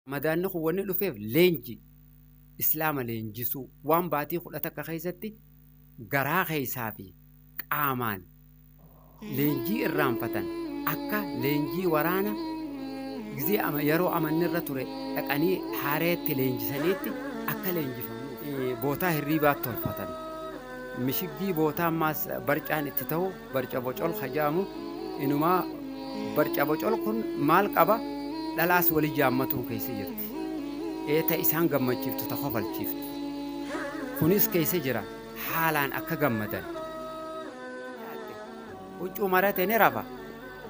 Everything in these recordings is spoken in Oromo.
Ramadaanni kun wanni dhufeef leenji, Islaama leenjisuu, waan baatii kudha takka keessatti garaa keessaa fi qaamaan leenjii irraanfatan akka leenjii waraana gizee ama yeroo amanni irra ture dhaqanii haareetti leenjisaniitti akka leenjifamu eh, bootaa hirriibaa tolfatan. Mishiggii bootaa ammaas barcaan itti ta'u Barcabocol ka jedhamu inumaa barcabocol kun maal qaba dhalaas wali jaammatuu keessa jirti. Eeta isaan gammachiiftu ta kofalchiiftu. Kunis keessa jira haalaan akka gammadan. Huccuu marate ni rafa.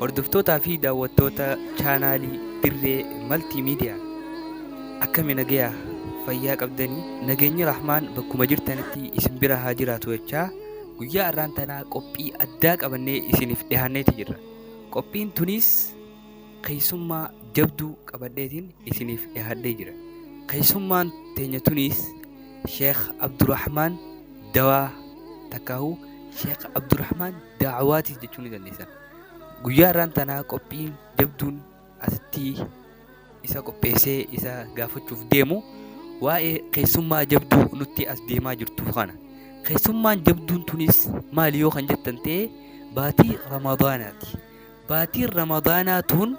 Hordoftootaa fi daawwattoota chaanaalii Dirree Maltii Miidiyaa akkami nagayaa fayyaa qabdanii nageenyi rahmaan bakkuma jirtanitti isin bira haa jiraatu jechaa guyyaa har'aan tanaa qophii addaa qabannee isiniif dhihaanneeti jirra. Qophiin tunis keessummaa jabduu qabadheetiin isiniif dhihaadhee jira. Keessummaan teenya tunis Sheekh Abdurrahmaan Dawaa takkaahuu Sheekh Abdurrahmaan da'awaatiif jechuu ni dandeessan. Guyyaa irraan tanaa qophiin jabduun asitti isa qopheessee isa gaafachuuf deemu waa'ee keessummaa jabduu nutti as deemaa jirtu kana. Keessummaan jabduun tunis maali yoo kan jettan ta'e baatii Ramadaanaati. Baatiin Ramadaanaa tun